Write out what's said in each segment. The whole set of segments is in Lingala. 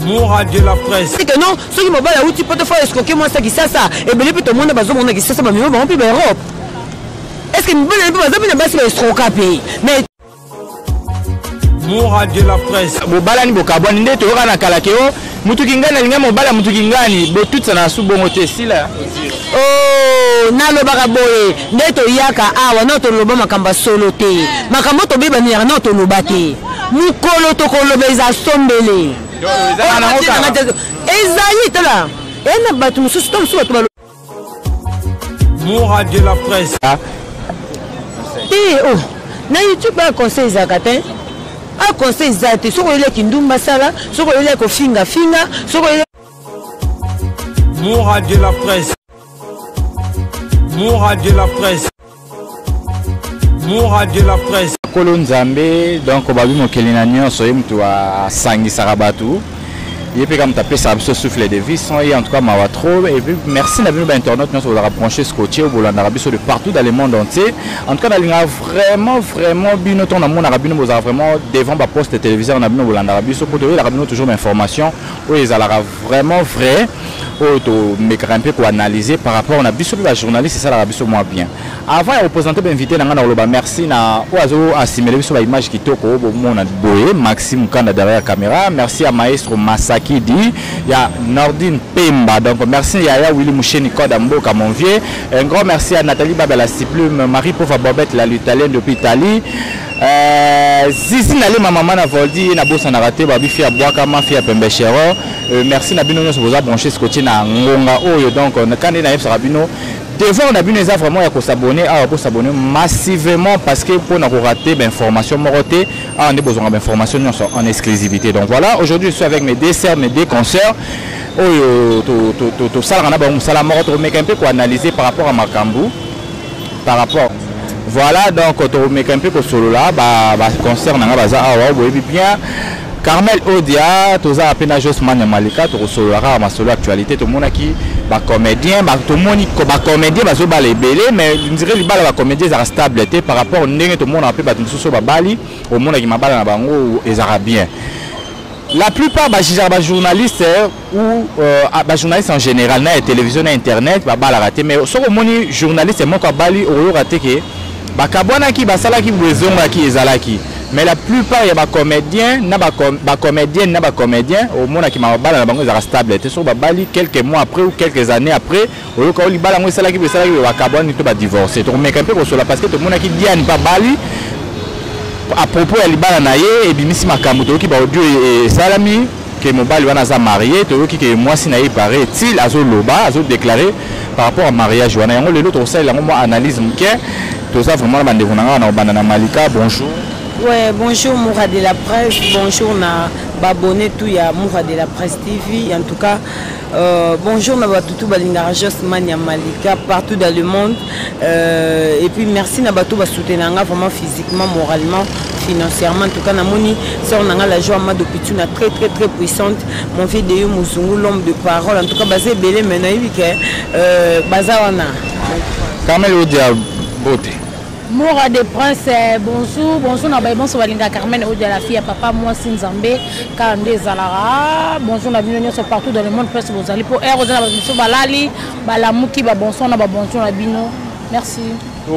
mura de la presse que non soki mobali awuti poto fo escoke mwasi ya kisasa ebele mpe tomona bazomona kisasa bamima bango mpe baeurope est ce que mibali na mpe baza mpe na basi baestroka mpe mais mura de la presse bobalani bokabwani nde toyoka na kala ke o Mutu kingani alinga mobala mutu kingani botutisa na su bongo te sila. Oh, nalobaka boye nde toyaka awa na toloba makambo ya solo te makambo tobebaniyaka na toloba te mokolo tokoloba eza sombele ezali tala ena bato mosusu to mosusu bato Moura de la presse. Ah. Eh, oh. na youtube ba conseil ezalaka te a conseil eza te soki oyeli ya kindumba sala soki oyeli ya kofingafinga soki oyeli Moura de la presse. Moura de la presse. mora de la presse kolo nzambe donc babi mokeli na nyonso ye moto asangisaka bato ye mpe ka moto apesaka biso souffle de vie sans ye en tout cas mawa trop et puis merci na bino bainternaute nyonso bozalaka branche scotche bolandaka biso de partout dans le monde entier en tout cas nalingaka vraiment vraiment bino ntango namonaka bino bozalaka vraiment devant baposte téléviseur na bino bolandaka biso mpo toyelaka bino toujours bainformation oyo ezalaka Vraiment vrai oyo tomekaka mpe koanalyse par rapport na biso mpe bajournaliste esalaka biso mwa bien avant ya kopresente bainvité na ngai na koloba merci na oyo azo asimele biso baimage kitoko oyo bomona boye maxi mokanda derrière caméra merci ya maestro masakidi ya nordine pemba donc merci ya ya willi musheni koda mboka mon vieux un grand merci ya nathalie babela siplume marie pova bobette la lutalienne depuis italie Euh, zizi nalema mama na voldi ye nabosanaka te babifi ya bwaka mafi ya pembe chero euh, merci na bino nyonso boza branche sikotie na ngonga oyo donc kande nayebisaka bino devoir na bino eza vraiment ya kosabone awa bosabone massivement parce que mpo na korate bainformation moko te awa nde bozwanga bainformation nyonso en exclusivité donc voilà aujourd'hui je suis avec mes deux sœurs mes deux consoeurs oyo tosalaka na bango mosala moko tokomeka mpe koanalyse par rapport ya makambo par rapport voilà donc tokomeka mpe kosolola baconcert na ngai baza awa boyebi bien carmel odia tozala mpe na josman ya malika tokosolola kaka masolo ya actualité tomonaki bacomédien tomoni bacomédien bazobala ebele mais ndire libala bacomédien ezalaka stable te par rapport ndenge tomonaka mpe bato mosusu babali omonaki mabala na bango ezalaka bien la plupart bajijaka bajournaliste ou euh, ah, ba journaliste en général na ya télévision na internet babalaka te mais soki omoni journaliste moko abali okoyoka te ke bakabwanaki basalaki boye ezongaki ezalaki mais la plupart ya bacomédien na bacomédienne na bacomédien omonaki mababalana bango ezalaka stable te soki babali quelques mois après ou quelques années après oyoka o libala yango esalaki boye esalaki boye bakabwani to badivorce tokomeka mpe kosola parce que tomonaki diane mpe abali à propos ya libala na ye ebimisi makambo toyoki baaudio e, esalami ke mobali wana aza marie toyoki ke mwasi na ye pare etil azoloba azodeklare par rapport ya mariage wana yango lelo tokosalela yango mwa analyse moke toza vraiment na bandeko na ngai na kobanda na malika bonjour Ouais, bonjour Moura de la Presse, bonjour na babonné tout ya Moura de la Presse TV. En tout cas, Euh, bonjour na bato tout balingaka josman ya malika partout dans le monde euh, et puis merci na bato basoutenaka nga vraiment physiquement moralement financièrement en tout cas namoni sœur na nga la joie mado pituna très très très puissante mon vieux de yo mozungu l'homme de parole en tout cas baza ebele mais nayebi ke euh, baza wana carmel odia bote Mora de Prince, eh, bonjour, bonjour na baye bonso balinga Carmen Odia la fille papa moi si Nzambe kala nde ezalara. Bonjour na bino nyonso partout dans le monde presque bozali po heure oza na bato mosusu balali balamuki ba bonsoir na ba bonjour na bino. Merci.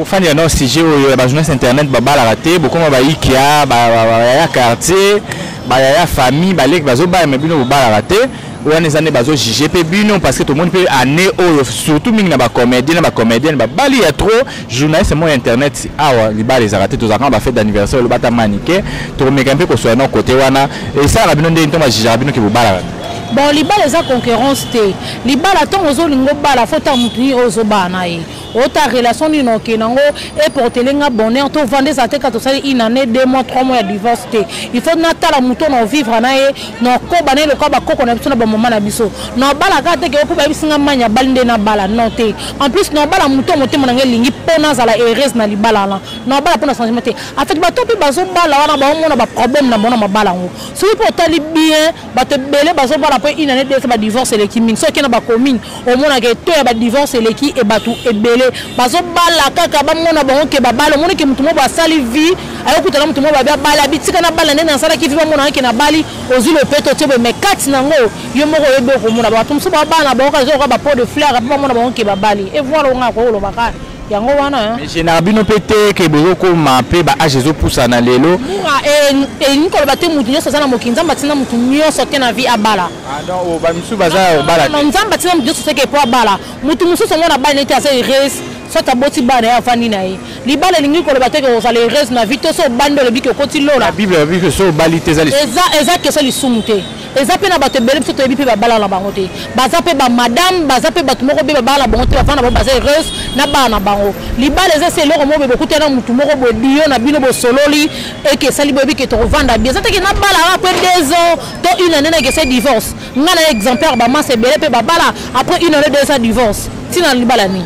ofandi ya nao sujet oyo ya bajournaliste internet babalaka te bokoma bayikia bayaya quartier bayaya famille baleki bazobala me bino bobalaka te wana eza nde bazojuge mpe bino parce que tomoni mpe année oyo surtout mingi na bacomédien na bacomédienne babali ya trop Journaliste moi internet awa libala ezalaka te tozalaka ba fête d'anniversaire oloba ata manike tokomeka mpe kosoya na kote wana esalaka bino ndenge ntoma jijaka bino ke bobalaka bon libala eza concurrence te libala ntongo ozolinga obala fo ta motu nini oyo ozobala na ye ota relation nini oke nango eportele nga bonheur tovanda eza te ka tosali une année deux mois trois mois ya divorce te il faut natala motu ona ovivre na ye na okoba naye lokola bakoko na biso na bamama na biso na obala kaka te ke okoba yebisi nga mani abali nde nabala non te en plus na obala moto motema na ngai elingi mpo nazala heureuse na libala wana na obala mpo na changement te en fait bato mpe bazobala wana baomona baproblème na bango na mabala yango soki mpe otali bien bato ebele bazobala mpo inane desa badivorce eleki mingi soki okenda bacommune omona ke to ya ba divorce eleki e batu ebele bazo bala kaka ba mona bango ke ba bala omona ke mutu mo ba sali vie ayo kuta na mutu mo ba ba bala bitika na bala nene na sala ki vie ba mona ke na bali ozi le peto tse be mekati na ngo yo moko ye boko mona ba tumso ba bana ba ka zo ba pot de fleur ba mona bango ke ba bali e voilà nga ko lo ba ka yango wana général bino mpe te ke bozokoma mpe baage ezopusana lelo elingi koloba te moto nyonso aza na mokili nzambe atinda moto nyonso te na vie abala Ah non, oh, ba misusu baza ya obala. Non, nzamba tina mbiyo soseke po abala. Mutu mususu mwana bana nete aza heureuse. soit aboti bana ye afandi na ye libala elingi koloba te ke ozala heureuse na vie to so obandi olobi ke okoti lola bible alobi ke so obali te eza question lisumu te eza mpe na bato ebele biso toyebi mpe babala na bango te baza mpe bamadame baza mpe bato moko mpe babala na bango te bafana na bango baza heureuse na bana na bango libala eza se eloko moko boye bokuta na motu moko boye biyo na bino bosololi eke esali boyebi ke tokovanda bi eza teke nabala kaka mpe deux ans to une année nake se divorce nga na exemplaire bamasa ebele mpe babala après une année deux sa divorce ntina na libala nini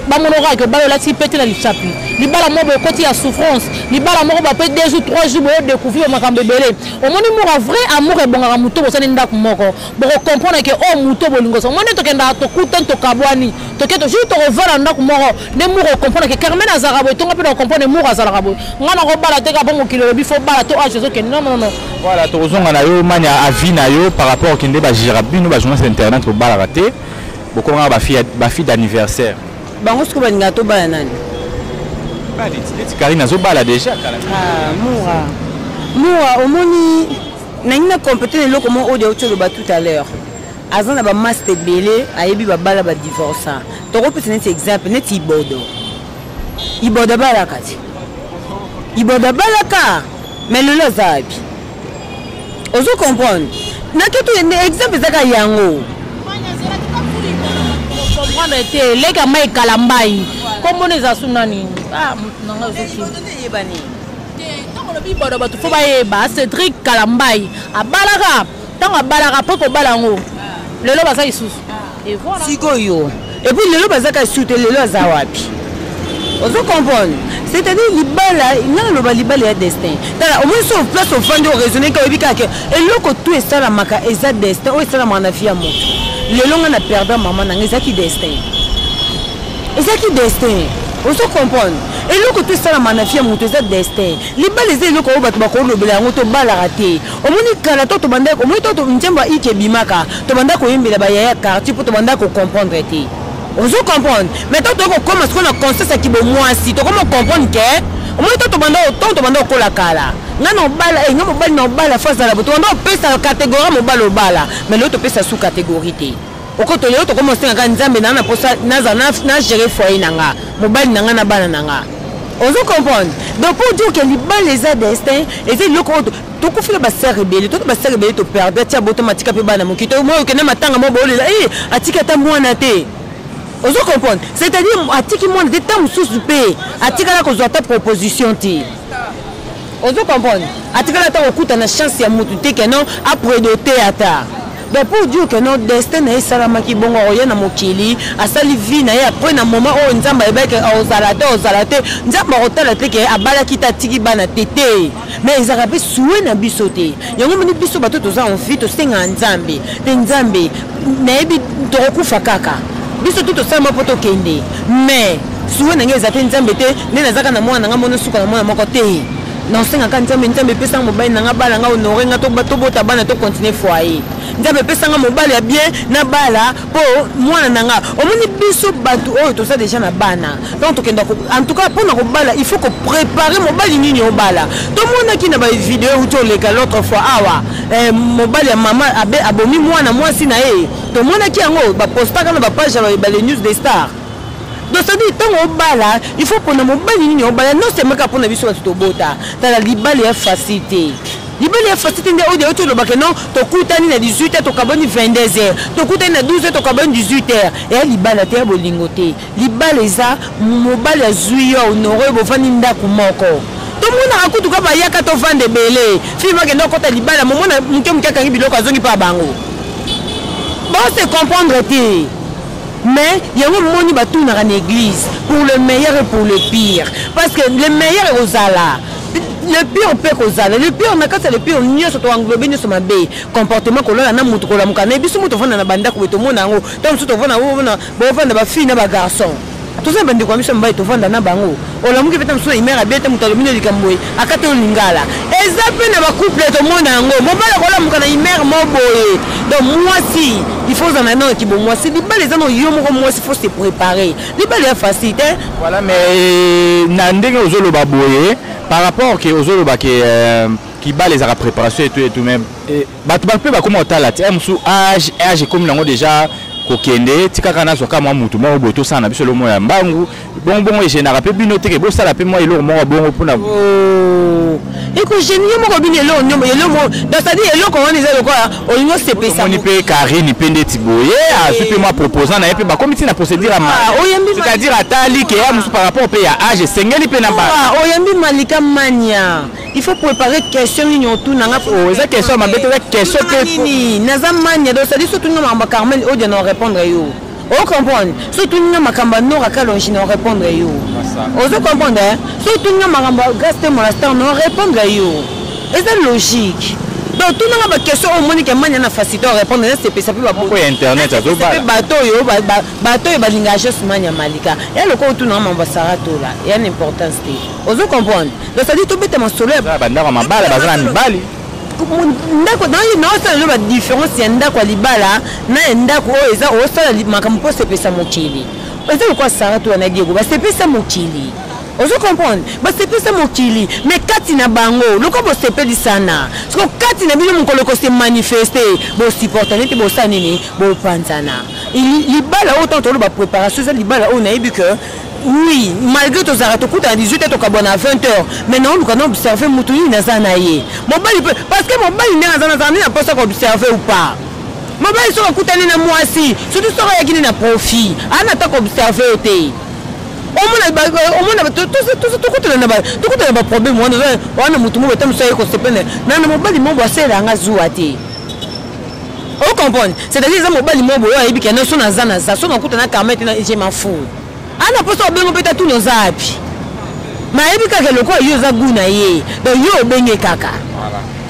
bamonokaka ke obala olati mpe te na lichapi libala moko ekoti ya souffrance libala moko bape deux jours trois jours boyo découvrir makambo ebele omoni mura vrai amour ebongaka moto bosani ndako moko bokocomprendre ke oyo oh, moto bolingo omoni tokendaka tokutani tokabwani toke toujours tokovanda na ndako moko nde mura okomprendre ke carmen azalaka boye tonga mpe na okomprendre mura azalaka boye ngai nakobala te kapa mokili olobi fo bala to age ozokende nonono voilà tokozonga na yo mani avi na yo par rapport kende bajira bino bajournaliste internet bobalaka te bokomaka bafille d'anniversaire bango siko balingaka tobala nani karine azobala déjà ah, mura mura omoni nangi na compete na eloko moko oyo auti oloba tout à l'heure aza na bamasta ebele ayebi babala badivorsa tokopesa neti exemple neti ibodo ibodo abalaka te ibodo abalaka me lelo aza wapi ozo comprendre naketo exemple ezaka yango comprendre te leka mai kala mbai kombona eza su nani ah, nanga ezoyebani te ntango olobi ibodo bato fo bayeba cédrik kala mbai abalaka ntango abalaka apres kobala yango lelo baza lisusu sikoyo epuis lelo baza kaka lisusu te lelo aza wapi ozo comprendre c'est-à-dire libala nga naloba libala ya destin tala omoni so place ofandi oraisonne ka oyebi kaka ke eloko tu esalamaka eza destin oyo esalamaka na vie ya moto lelo nga na perda mama nanga ezaki destin ezaki destin ozo comprendre eloko tu esalamaka na vie ya moto eza destin libala eza eloko oyo bato bakolobela yango tobalaka te omoni kala to tobandaki omoni to nzembo ya ike ebimaka tobandaki koyembela bayaya quartier mpo tobandaki kocomprendre te ozo comprendre mais to toyei kokóma sikoyo na conscience ya kibomwasi tokoma ocomprendre ke omoni to tobanda to tobanda okola kala nga na obala e eh, nga mobali na obala fo azala bo tobanda opesa kategorie mobali obala mais lelo topesa su kategorie te okoto lelo tokoma osengaka nzambe naa na mposa nazala na gérer foyer na nga mobali na nga na bana na nga ozo comprendre donc pour dire que libala eza destin eza eloko oyo tokufela baser ebele tona baser ebele toperde atia boto matika mpe bana moki to moi okende matanga mwa baolela e atiki ata mwana te ozo comprendre c'est-à-dire atiki mwana te ntango mosusu mpe atikala kozwa ata proposition te ozo comprendre atikala ata kokuta na chance ya motu te keno apredote ata donc pour dire que no destin na ye esalamaki bongo akoya na mokili asali vie na ye après na moment oyo nzambe ayebaki ozala te ozala te nzambe akotala te ke abalaki te atiki bana te te mais ezalaka mpe sue na biso te yango moni biso bato toza envi tosengaka nzambe mpe nzambe nayebi tokokufa kaka biso tu tosalama mpo tokende mais sue na ngai eza te nzambe te nde nazaka na mwana na ngai mono suka na mwana moko te nasengaka nzambe nzambe epesanga mobali na ngai bala ngai honore ngai tobota bana tokontinue foyer nzambe epesanga mobali ya bien na bala po mwana na nga omoni biso bato oyo toza deja na bana donc tokenda en tout cas mpona kobala il faut kopréparer mobali nini obala tomonaki na bavideo euti oleka l'autre fois awa eh, mobali ya mama abe abomi mwana mwasi na ye tomonaki yango bapostaka na bapage ya bale news de star donc cetadire ntango obala il faut mpona mobali nini obala nosemeka mpona biso bato tobota tala libala ya fasi te libele ya fasite nde oyo euti olobake non tokutani na 18 heures tokaboni 22 heures tokutani na 12 heures tokaboni 18 heures eya libala te ya bolingo te libala eza mobali azwi yo honore bovandi ndako moko tomonaka kutu ka bayaka tovanda ebele fille bakenda okota libala momona moke moke akangi biloko azongi mpa bango bose comprendre te mais yango moni batunaka na église pour le meilleur et pour le pire parce que le meilleur ekozala le pire mpe kozala le pire na kati ya le pire nyonso to englobe nyonso mabe comportement kolala na moto kolamuka naye biso moto ofanda na bandako boye tomona yango ntango mosusu tofanda bofanda bafille na bagarçon toza na bandeko ya biso ya mobali tofanda na bango olamuki mpe ta mosusu na imere abe te moto alobi no likambo boye akati oyo lingala eza mpe na bacouple tomona yango mobali akolamuka na imere mo boye donc mwasi il faut ozala na yango ya kibomwasi libala eza na yo moko mwasi faut se préparer libala ya facile te voilà mais euh, na ndenge ozoloba boye par rapport ke ozoloba ke euh, kibala ezalaka préparation etu etu mais eh, bato bato mpe bakoma kotala ti mosusu age age ekomi nango déjà kokende tikaka nazwa ka mwa motu moko boye tosala na biso eloko moko ya mbangu bongbongo egenaka mpe bino teke bosala mpe mwa eloko moko bongo mpona oh, ekogenie moko bino eloko eloko donc cetadire eloko wana eza lokola olingi osepesa omoni mpe karine mpe ndeti boye eh. azwi mpe mwa proposant na ye mpe bakomi ntina procédure ya maicetadire ah, atali ke ya mosusu par rapport mpe ya age esengeli mpe na bana ah, oyambi malika mania il faut préparer question nini otuna nga oh, eza question ya mabe te eza question te naza mania donc sadi so otuni nga makambo ya carmen odia na orépondre yo o comprendre soki tuni nga makambo ya nora kalonji na orépondre yo ozo comprendre hein? soki tuni nga makambo ya grace te monastar na orépondre yo eza logique donc tuna nga baquestion oyo omoni ke mania na facilité orépondre eza sepesa mpe bato oyo bato oyo balingaka jos mania malika ya lokola otuna nga mambo ya sara tola ya na importance te ozo comprendre donc sadi tobeta masolo ya bandako mabala baza na mibali ndako naosala lelo badifference ya ndako ya libala na ya ndako oyo eza osala makambo mpo osepesa mokili eza lokola sara to wana diego basepesa mokili ozo comprendre basepesa mokili me kati na bango lokola bosepelisana soko kati na bino mokolo kose manifeste bosupporta nete bosala nini bopanzana libala oyo ntango toloba préparation eza libala oyo nayebi ke Oui, malgré tozalaka tokutana 18 heures tokabwana à 20 heures mais naoluka na observe motu nini naza na ye mobali mpe parce que mobali ndenge aza nazala nde na mposa koobserve ou pas mobali soki akutani na mwasi surtout soki ayaki nde na profit ana ata koobserve ye te omona tokutana baproblème wana wana motu moko ata mosu aye kosepene nana mobali moko asela yanga zuwa te ocomprendre c'est-à-dire eza mobali moko boyo ayebi kena so naza naza so nakuta na karma ete je m'en fou ana posa obengo mpe tatuna oza wapi mayebi kaka lokola yo oza gu na ye donc yo obenge kaka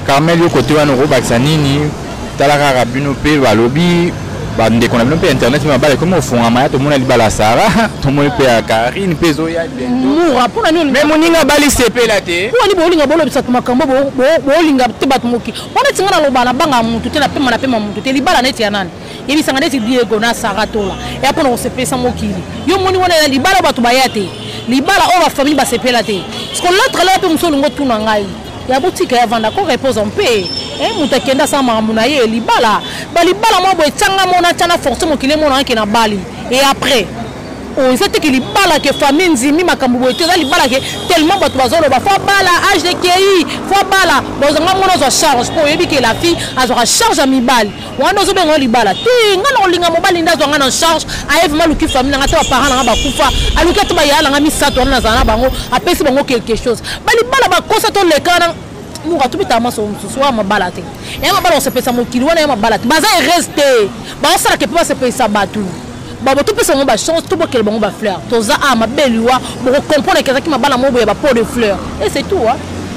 carmel yo kote wana okobakisa nini tala kaka bino mpe balobi bandeko na bino mpe internet mpe mabala ekomi ofungama ya tomona libala ya sara tomoni mpe ya karine mpe ezoya mura mpona nini me moninga abali sepela te mpona nini bolinga bolobisa makambo bolinga te bato moki wana tinga naloba na banga motu te napema napema motu te libala neti ya nani yebisanga ndeti diego na sara tola eya mpona kosepelisa mokili yo moni wana ya libala bato baya te libala oyo bafamili basepela te siko lotre laa mpe mosu olingo tuna ngai ya botika ya vanda ko repose en paix eh, moto akenda asala makambo na ye libala balibala mwa boye tyanga mona tya na force mokili emonana ke na bali e après oyo oh, eza teke libala ke famille nzimi makambo boye te eza libala ke tellement bato bazoloba fo abala age de kei fo abala bozanga mona azwa charge mpo oyebi ke la fille azwaka charge ya mibali wana ozobenga yo libala te ngai nakolinga mobali nde azwa ngai na charge aye vraimen aluki famille na ngai te baparent na ngai bakufa aluki ata bayaya na ngai misato wana nazala na bango apesi bango quelque chose balibala bakosa toleka na muka tobetaka maso mosusu wana mabala te ya mabala kosepelisa mokili wana ya mabala te baza heureuse te baosalaka mpe basepelisa bato babo topesa bango bachance tobokela bango bafleur toza a mabe liwa bokokomprendre ke ezalaki mabala moko boye bapo de fleur e c'est tout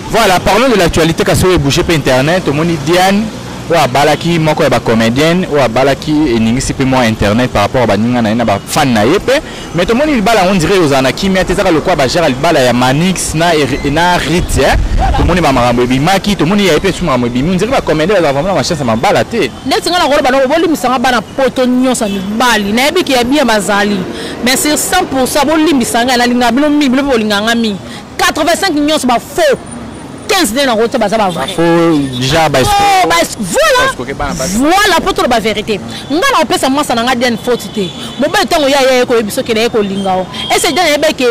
voilà parlons de l'actualité kasi oyo ebouge mpe internet omoni diane oyo abalaki moko ya ba comedienne oyo abalaki eningisi pe mwa internet par rapport ya baninga na ye na ba fan na ye pe mais tomoni libala yango ndire ozala na kimia te ezaka lokola bajara libala ya manix na, na rit eh? tomoni bamakambo ebimaki tomoni yaye pe su makambo ebimi ondire ba comedien bazala vraiment na bachance ya mabala te ndeti nga nakoloba noko bolimbisanga bana poto nyonso ya mibali nayebi ke ya bien bazali mais sur 100 pourcent bolimbisanga nalinga bino mingi bino pe bolinganga mingi 85 nyonso ba faux 15 nde nango te baza ba vrai voilà voilà mpo toloba verité ngai nakopesa mwasa na ngai diane foti te mobali ntango ye ayaye koyebi soki naye kolinga o ese diane ayebi eke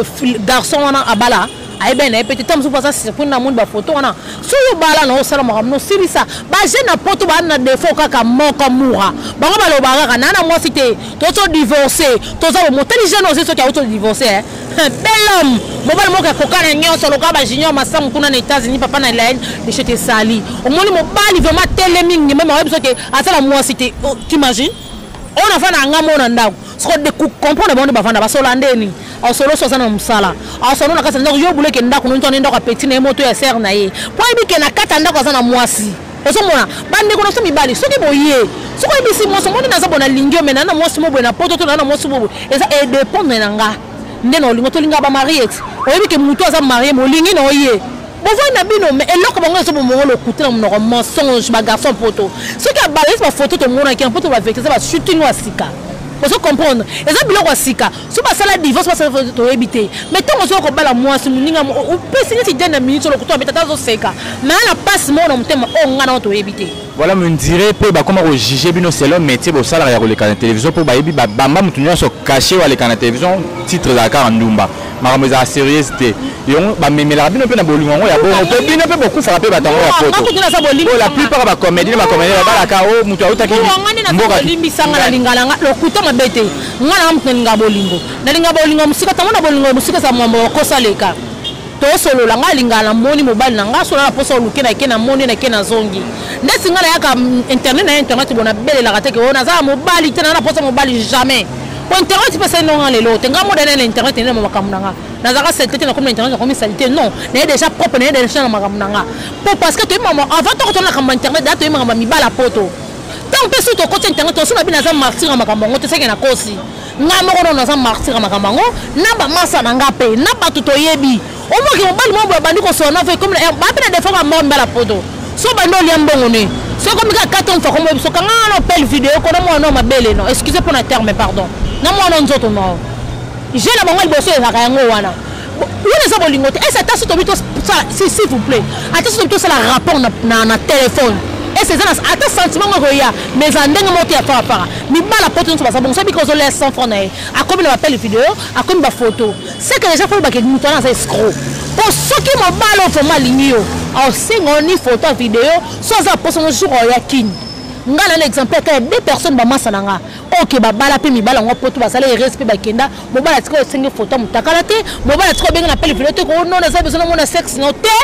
garçon wana abala ayebani na ye mpe te ntango mosusu baza surprise na moni bafoto wana soki obala na osala makambo nosilisa bajeune na poto baa na defo kaka moko mura bango baloba kaka naa na mwasi te tozo divorce toza bomotali jeune ozi soki auto divorce Bel homme, mobali moko ya kokana nyonso lokola ba junior masamu kuna na États-Unis papa na Elaine monsieur te sali. Omoni mobali vraiment telemi ngema ma biso te asala mwasi te. Oh, tu imagines? On a fait na ngamo na ndako. Soko de comprendre bango bavanda ba sola ndeni. Au solo sosa na musala. Au solo na kasa ndako yo buleke ndako nonto na ndako ya petit na moto ya sœur na ye. Po ebi ke na kata ndako azana mwasi. ozomona bandeko na biso mibali soki boye soki oyebisi mwasi omoni naza bona lingi omena na mwasi moboye na poto to na mwasi moboye eza edependre na nga nde na olingo tolinga bamariet oyebi ke motu aza marie molingi na oye bovoi na bino me eloko bango ezo bomongo lokuta na monoko mensonge bagarçon poto soki abalisi bafoto tomonaki na poto bavekisa basutingo ya sika ozo comprendre eza biloko ya sika so basala divorce basala toyebi te mais ntango ozoya kobala mwasi moninga opesi neti dene minute olokutu abeta ata azoseka na ya na mpasi moko na motema oyo oh, ngai nao toyebi te voilà mondire mpe bakoma kojuge bino selon métier bosalaka ya koleka na télévision mpo bayebi babamba moto nyonso kashe oyo aleka na télévision titre ezala kaka ndumba makambo ezala serieuse te yango bamemelaka bino mpe na bolingo yango ya bongo mpe bino mpe bokufaka mpe bato yango ya poto la plupart bacomédie na bacomédie babalaka o oh, moto autaki mboka limbisanga na lingalanga lokuta mabe te nga na mutu nalinga bolingo nalinga bolingo mosika ntango na bolingo ya mosika eza mwambo okosa leka tosolola ngai alingaka na moni mobali na ngai solola na mposa oluke nake na moni nake na zongi ndeti ngai nayaka internet na ye internet bona belelaka te ke oyo nazala mobali te naa na mposa mobali jamais po internet mpe esali nonga lelo te ngai modane na internet ene na makambo na ngai nazalaka salite te nakomi na internet nakomi salite non naye déjà propre naye déjà na makambo na ngai po parce que toyebi avant toko tona makambo ya internet daa toyebi makambo ya mibala poto ntango mpe soki tokoti internet tosi na bino aza martire ya makambo yango toseke na kosi ngai moko nono aza martire ya makambo yango na bamasa na ngai mpe na bato toyebi omoki mobali moko abandi kosola na vekomi eh, bape na defo bamoko mbala poto so bandi olia mbongo ne soko mika kati omfa komoye biso kanga wana opele video kona mwana o mabele no excuse mpo na terme pardon na mwana nzoto nao je na bango liboso ezalaka yango wana wana eza bolingo te ese ata so tobi tosala s'il vous plaît ata so tobi tosala rapport na téléphone ese eza ata sentiment ngo ekoya mais eza ndenge moko te ya farafara mibala poto nyonso baza bongo soki bika ozolia 100 franc na ye akomi na bapele video akomi bafoto seke deja fo olobake moto wana aza escro mpo soki mobala oyo vraimen alingi yo aosenga yo ni foto ya video so aza poso no jour oyo ya kini ngai na na exemplaire kaka ya deux personnes bamasa na ngai oke babala mpe mibala yango poto basala erese mpe bakenda mobala atika osengi foto ya motakala te mobala atika obengi na pele video te ko nona eza besoin namona sexe no te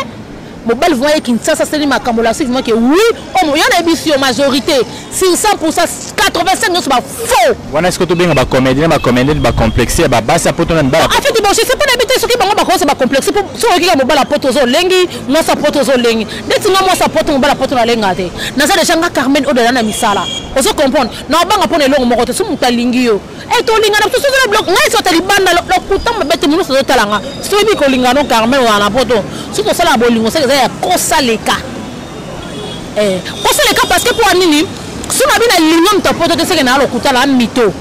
mobali vrima ye kinshasa asali makambo lasi vrima ke oui omo oh, yo nayebisi yo majorité sur 100 85 nyonso bafaux wana siko tobenga bacomédie na bacomédien bacomplexe ya babasi ya poto na mibala en fait bosese mpo nayebi te soki bango bakosa bacomplexe mpo soki oyokika mobala poto oza olengi mwasi ya poto oza olengi ndeti nga mwasi ya poto mobala poto nalenga te naza deja nga carmen oyo dala na misala ozo comprendre na obanga mpo na elongo moko te soki moto alingi yo Eh, tolingana biso soki na blok ngai sota libanda lokuta mabe te monusu azotala nga soki bi kolingana carmel wana na poto soki tosala bolingo seke eza ya kosaleka eh, kosaleka parce que mpo nini so na bi na linga moto ya poto te seke na ya lokuta na mito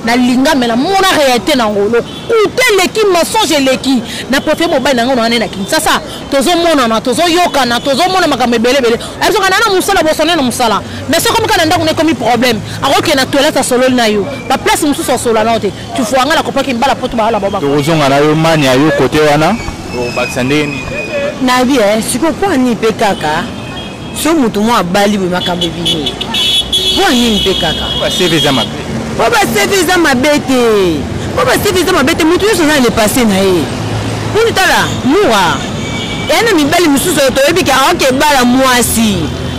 nalinga me namona réalité nango lokuta eleki mensonge eleki na préfère mobali na ngai na wana na kinshasa tozomonana tozoyokana tozomona makambo ebele ebele abisoka na na mosala bosone na mosala mais soki omika na ndako na ekomi problème akokende na toilette asololi na yo baplace mosusu asolola nao te tufua ngai nakopaki mbala poto baala babakozonga na yo mani ya yo kote wana obakisa ndenge nini nayebi eh, sikoyo mpo ani mpe kaka so moto mwa abali boye makambo ebimi mpo ya nini mpe kaka baseve eza mabe mpo baseve eza mabe te mpo baseve eza mabe te moto nyonso aza na lepasse na ye mponi tala mura eya na mibali mosusu oyo toyebi ke aoke ebala mwasi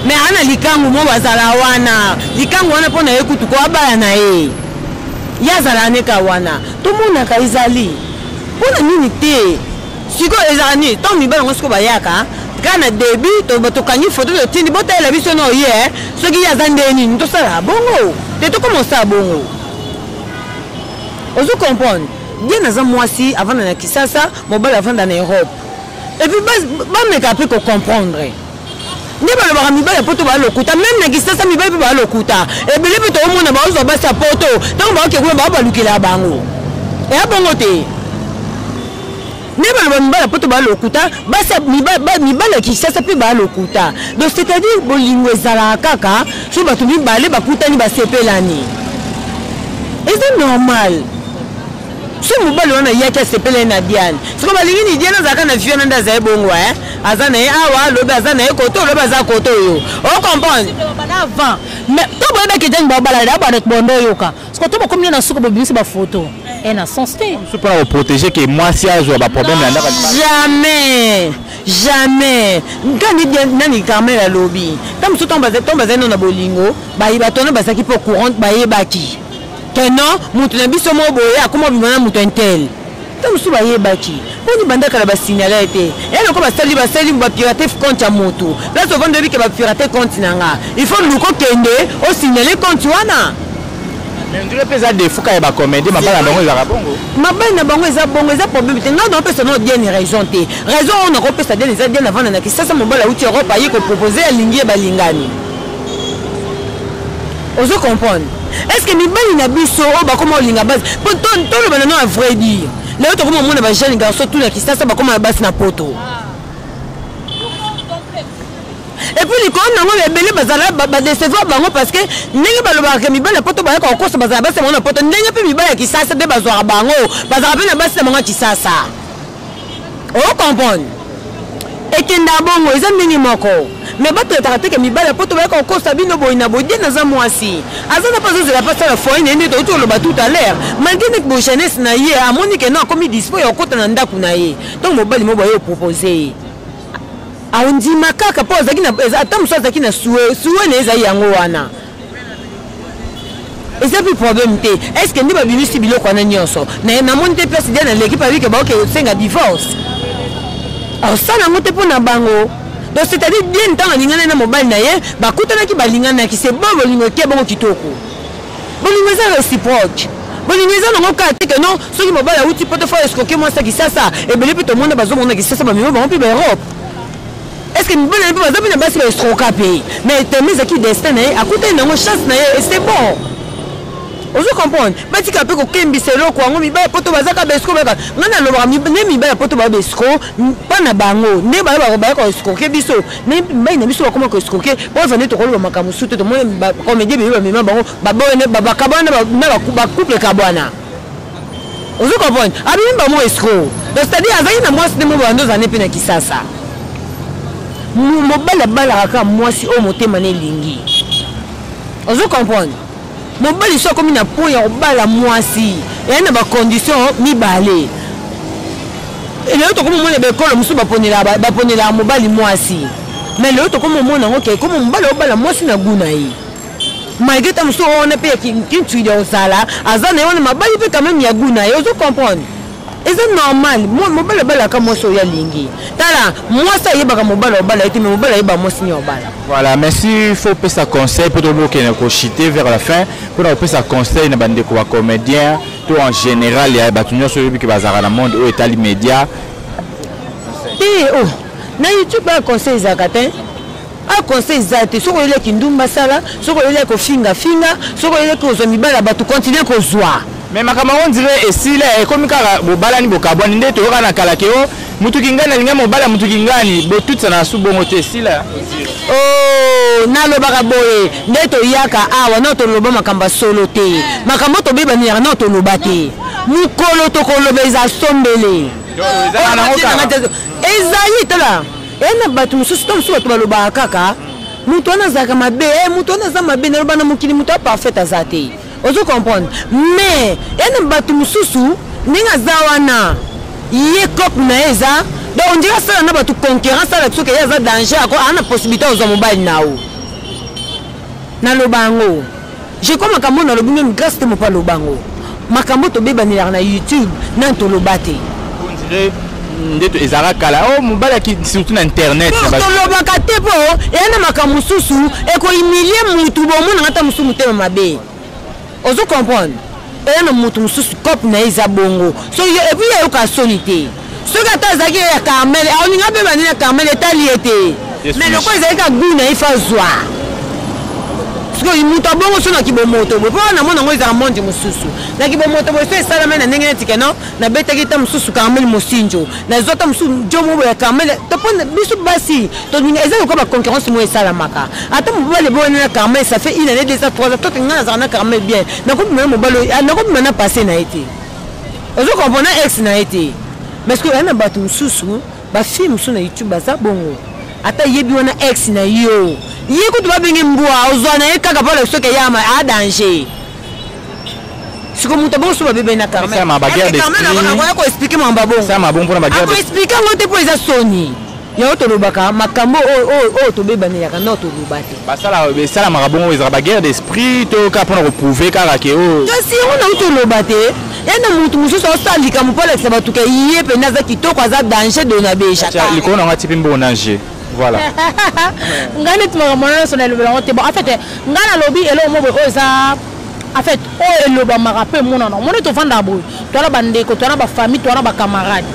me aa na likangu mo bazala wana likangu wana mpo na ye kutu ko abala na ye ye azala aneka wana tomonaka ezali mpo na nini te sikoyo ezala nini ntango mibali yango sikoyo bayaka kaka na debut tokangi foto totindi botalela biso na oye eh. soki ye aza nde nini tosala bongo te tokoma osala bongo ozo comprendre bien aza mwasi avanda na kisasa mobali avanda na europe epuis bameka mpe kocomprendre nde balobaka mibali ya poto baa lokuta meme na kisasa mibali mpe baa lokuta ebele mpe toomona baozwa basi ya poto ntango baoke kuna baa balukela ya bango eya bongo te nde baloba mibali ya poto baa lokuta basi mibali ya kisasa mpe baa lokuta donc c'est-à-dire bolingo ezalaka kaka so bato mibale bakutani basepelani eza normal so mobali wana yaki asepelani na diane soko balingi ni diane azalaka na viana nde azali bongo e eh? aza na ye awa lobi aza na ye koto lobi aza koto oyo o comprendre avant mais to boye ba kejani ba bala da ba bondo yoka siko to bakomi na suka bobimisi ba photo et na sens te so pona ko protéger que moi si azo ba problème na ndaka jamais jamais nkani nani carmel alobi ntango mosusu ntango bazali nano na bolingo bayi bato wana bazalaki mpo courant bayebaki que non moto na biso moko boye akoma obima na moto intel ntango mosusu bayebaki mpo nibanda kala basignala ete ya loko basali basali bapirate compte ya moto place ovandi oyebi ke bapirate compte na nga il faut luka okende osignale compte wana ndule mpe eza defuka ya bacomédie mabala na bango ezalaka bongo mabali na bango eza bongo eza problème te ngai naopesa nao diane raison te raison oyo nakopesa diane eza diane avanda na kisasa mobali auti europe aye kopropose alingi ye balingani ozo comprendre est ce que mibali na biso oyo bakoma kolinga basi po toloba nano ya vrai dire lelo tokoma omona ba jeune garçon tout na kisasa bakoma na basi na poto epuis likolo nango ebele bazala badecevoir bango parce que ndenge balobaka mibali ya poto bayaka kokosa bazala basi bango na poto ndenge mpe mibali ya kisasa nde bazwaka bango bazalaka mpe na basi na bango ya kisasa okomprendre ekenda bongo eza ndenge moko me batretaka teke mibali ya poto bayaka kokosa bino boyi na bodie naza mwasi aza na mpe azozela mpe asala foi na ye nde touti oloba tout à l'heure malgre ndeke bo jeunesse na ye amoni ke no akomi dispo ya kokota na ndako na ye ntango mobali moko baye opropose ye ondima kaka mpo ata mosusu azalaki na sue sue na ye ezali yango wana eza mpe problème te est ce que nde babimisi biloko wana nyonso naye namoni te place dia na leki pabike baoke osenga divorce osala yango te mpo na bango donc c'est à dire dia ntango alingana na mobali na ye bakutanaki balinganaki se bo bolingo eke bongo kitoko bolingo eza réciproque bolingo eza nango kaka te ke non soki mobali awuti poto fo eskoke mwasi ya kisasa ebele mpe tomona bazomona kisasa bamema bango mpe baeurope est ce que mibali na mpe baza mpe na basi baestroka mpe mais teme ezalaki destin na ye akutani nango chance na ye et c'est bon ozo comprendre batika mpe kokembisa eloko yango mibali ya poto bazaka baesco baka ngai nalobaka nde mibali ya poto baya baesco mpa na bango nde baya koescoke biso nde mibali na biso bakoma koescoke boza nde tokoloba makambo mosusu te tomoni bacomédie bebe bamema bango babakabwana na bacouple kabwana ozo comprendre abimi ba mwa escro donc c'est à dire azali na mwasi nde mobanda oza nde mpe na kisasa mobali abalaka kaka mwasi oyo motema na elingi ozo comprendre mobali so akomi na point ya kobala mwasi eyai na bacondition mibale lelo tokomi omona baekolo mosusu baponelaka mobali mwasi mais lelo tokomi omona yango ke komi mobali obala mwasi na guna ye malgré ta mosusu wana mpe kintuidi ya kozala aza na ye wana mabali mpe quand même ya gout na ye ozo comprendre eza normal mobali abalaka mwasi oyo alingi tala mwasi ayebaka mobali obala ye te mai mobali ayeba mwasi nini obala voilà merci faut pesa conseil mpo tobokende kochite vers la fin mpo na kopesa conseil na bandeko ba comédien to en général ya bato nyonso oyebi ke bazalaka na monde oyo etali média te o oh, na youtube ba conseil ezalaka te a conseil eza te soki oyeli ya kindumba sala soki oyeli ya kofinga finga soki oyeli kozwa mibali ya bato continue kozwa me makambo yango ndire esila ekomi kaka bobalani bokabwani nde toyoka na kala ke o oh, motu kingani alinga mobali ya motu kingani botutisa na su bongo te esila o oh, nalobaka boye nde toyaka awa nao toloba makambo ya solo te makambo tobebaniyaka nao toloba te mokolo tokoloba eza sombele ezali tala eya na bato mosusu to mosusu bato balobaka kaka moto wana azalaka mabe eh, moto wana aza mabe naloba na mokili moto aparfait aza te ozo comprendre mais eya na bato mosusu ndenge aza wana ye cope na ye eza donc ondire asala na bato concurrence alaki soki ye aza danger ako ana possibilité ozwa mobali na yo naloba yango je crois makambo oyo nalobi meme grace te mopa lobango makambo tobebanelaka na youtube nani toloba te nde ezalaka kala o oh, mobali surtout na internet tolobaka te mpo eya na makambo mosusu ekohumilie motu bomonaka ata mosusu motema mabe ozo comprendre eya na motu mosusu cope na ye eza bongo so yo epuis ayoka soni te soki ata azalaki ye ya carmel aolinga mpe bandi na carmel etali ye te mais lokola ezali ka gou na ye fa zwa sikoyo moto abongo so na kibomoto boye mpo wana namona yango ezala mondi mosusu na kibomoto boye so esalama na ndenge neti keno nabetaki ta mosusu carmel mosinjo nazwa ta mosusu jo moko ya carmel topo biso basi tolinga eza lokola baconcurrence moko esalamaka ata mobali boyani na carmel ça fait une année deux ans trois ans tote ngai nazala na carmel bien nakobima na mobali nakobima na passé na ye te ozo comprendre ex na ye te mais que na bato mosusu bafille mosusu na youtube baza bongo ata yebi wana ex na yo ye kutu babenge mbwa ozwa na ye kaka mpo na soki eyama a danger siko moto bonso babebe na carmenakoya koexplike mambo abongoakoexplike yango te mpo eza soni Yango tolobaka makambo oyo tobebanelaka nao toloba te. Esalamaka bongo ezalaka ba guerre d'esprit to kaka mpona koprouve kaka ke oyo. Kasi yango nao toloba te ena motu mosusu aosala likambo mpo alakisa bato ke ye mpenza aza kitoko aza danger dona beja. Likolo na yango atie mpe mbongo na je. Voilà. Nga neti makambo wana nyonso nalobela yango te bon en fait nga nalobi eloko moko boye oyo eza en fait oyo elobamaka mpe emonana omoni tovandaka boye toana bandeko toana bafamille toana bacamarade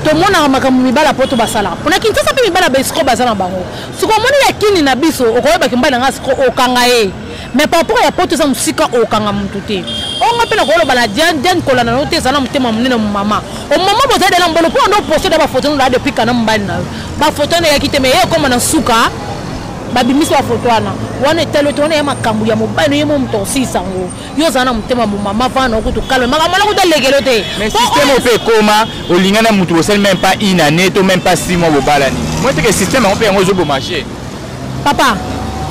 tomonaka makambo mibali ya poto basalaka mpona kinsasa mpe mibali ya besiko baza na bango siko omoni ya kini na biso okoyebaki mbali na ngai siko okanga ye mais par rapport ya poto eza mosika okanga motu te onga mpe nakoloba na diane diane kolanda no te eza na motema monene momama omama boza dela mbolo mpo ando poso da bafoto nola depuis kana mobali na yo bafoto wana eyaki te mais ye ekoma na nsuka babimisi bafoto wana wana etali ote wana ya makambo ya mobali no ye mo moto osisa yango yo ozala na motema momama vana okutu kalme makambo wana kuta lekelo te mais système oyo mpe ekoma olinga na motu bosali même pas une année to même pas six mois bobalani moi teke système yango mpe yango ezobomache papa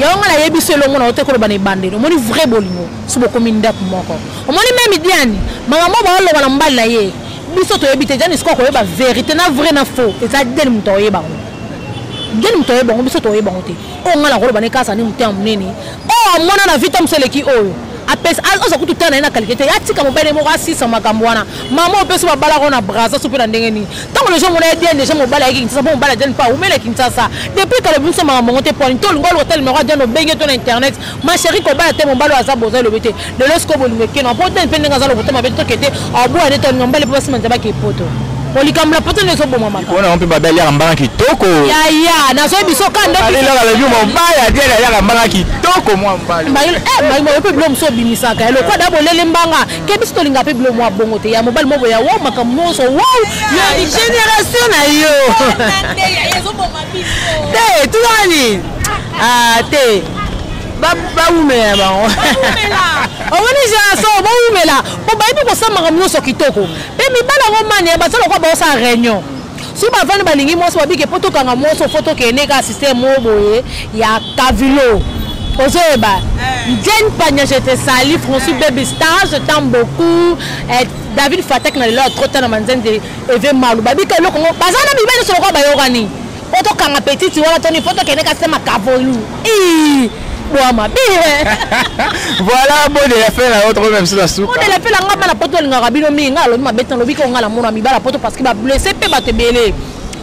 yango ngai nayebi so elongo na yo te koloba na ebandeli omoni vrai bolingo so bokomi ndako moko omoni meme diani makambo baoloba na mobali na ye biso toyebi te diani sikoyo koyeba verité na vrai na faux eza diani moto aoyeba yango diani moto aoyeba yango biso toyeba yango te oyo ngai nakoloba na ye kaka azali motema monene oyo amona na vita mosu eleki oyo apesa aza kutu tala na ye na kalite te atika mobali moko asisa makambo wana mama oyo mpe babalaka oyo na braza so mpe na ndenge nini ntango lejo mona ye diane deja mobali ayaki kinsasa mpo mobali adiane mpe awumela kinsasa depuis kala biso makambo yango te pwani to olinga oluka ta limero ya diane obenge to na internet ma chérie kobala te mobali oyo aza boza elobi te lelo sikoyo bolingo ekeno apotani mpe ndenge aza lokuta mabe toke te aboya nde toalinga mbale mpo basima nzambe ake epoto po likambo la poto nde ezobomamakaona yango mpe babeli yaka mbanga kitoko yaya nazoyi biso ka ndoalelaka lebi mobali atiele ayaka mbanga kitoko mwa mbalioyo eh, mpe bilo mosu obimisaka ya lokwa da bolele mbanga ke biso tolinga mpe bilo mwa bongo te ya mobali mobo ya wau makambo nyonso wau ya génération na yo te tunani ah, te bawumela bango omoni génération bowumela mpo bayebi kosala makambo nyonso kitoko mpe mibali yango mani ya baza lokola baosala réunion soki bavandi balingi mwasi babike mpo tokanga mwasi ofo tokende ka systeme moko boye ya kavilo ozoyeba jane pagna je te sali françois baby star je t'aime beaucoup eh, david fatak na lelo ya trota na manzende eve malu babika eloko ngo baza na mibali nyonso lokola bayokani po tokanga petite wana toni po tokende kasema kavolu bwa mabe voilà bode ya fela yo tokomi biso na suka bode ya fela nga bana poto alingaka bino mingi nga alobi mabe te alobi ko nga na mona mibala poto parce que ba blessé pe bato ebele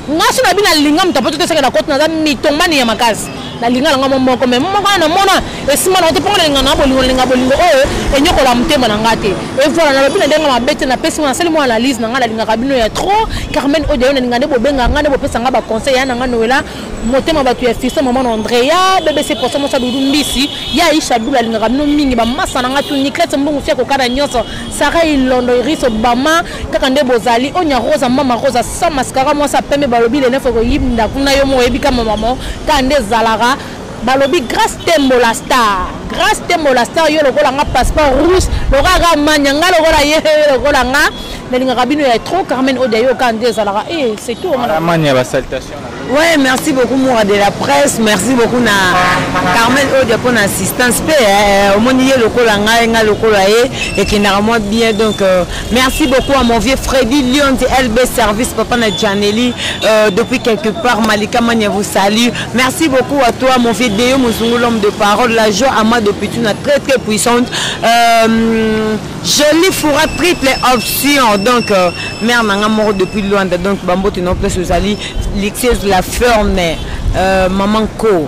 nga so na bino alinga moto apoto toseke na koti naza mitomani ya makasi nalinga na ngai momoko me momoko wana namona esimba na te mpo nalinga na bolingo nalinga bolingo oyo enyokola motema na ngai te evoila nalobi na ndenge mabe te napesi ngo nasali mwa analyse na ngai nalingaka bino ya trop carmen oyo dayo nalinga nde bobenga ngai nde bopesa ngai baconseil ya na ngai noela motema bato ya fiso maman andrea bbc poso mosa dudu mbisi ya aisha dula alingaka bino mingi bamasa na ngai tu niklete mbongo fia kokana nyonso sara ilondo iris obama kaka nde bozali onya rosa mama rosa sans mascara mwasi ya pembe balobi le neuf okoyinda kuna yo moko oyebi kama mama kaka nde ezalaka balobi grace tembo la star grace tembo la star yo lokola nga passeport rouge lokola kaka mania nga lokola ye lokola nga nalingaka bino ya trop carmen odia yo kaka nde ezalaka e eh, c'est tout mania basaltation Ouais, merci beaucoup Moura de la presse, merci beaucoup na Carmen Odia pour l'assistance pe eh, omoni ye lokola ngai ngai lokola ye ekendaka mwa bien donc euh, merci beaucoup à mon vieux Freddy Lyon de LB Service papa na Janelli euh, depuis quelque part Malika Mania vous salue. Merci beaucoup à toi mon vieux Deo Muzungu l'homme de parole, la joie à moi depuis tu très très puissante. Euh, Jolie Foura triple option donc euh, mère na nga moko depuis Luanda donc bambote na place ozali luxueuse la ferme euh, maman ko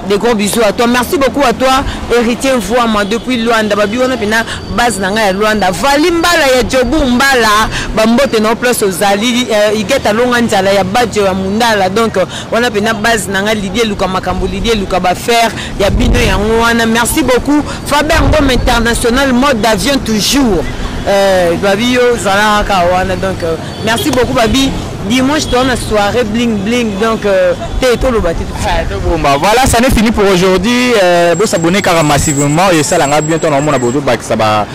des gros bisous à toi merci beaucoup à toi héritier voama depuis luanda babi wana mpena base na ngai ya luanda vali mbala ya jobu mbala bambote na place ozali euh, igeta longa nzala ya bajo ya mundala donc wana pena base na nga lidi eluka makambo lidi eluka bafaire ya bino yango wana merci beaucoup faber ngom international mode d'avion toujours euh, babi yo zala kaka wana donc euh, merci beaucoup babi dimanche toza na soirée bling bling donc euh, te toloba te tobomba voilà ça n'est fini pour aujourd'hui euh, bosabone kaka massivement esala nga bien ntango naomona bozobakisa ba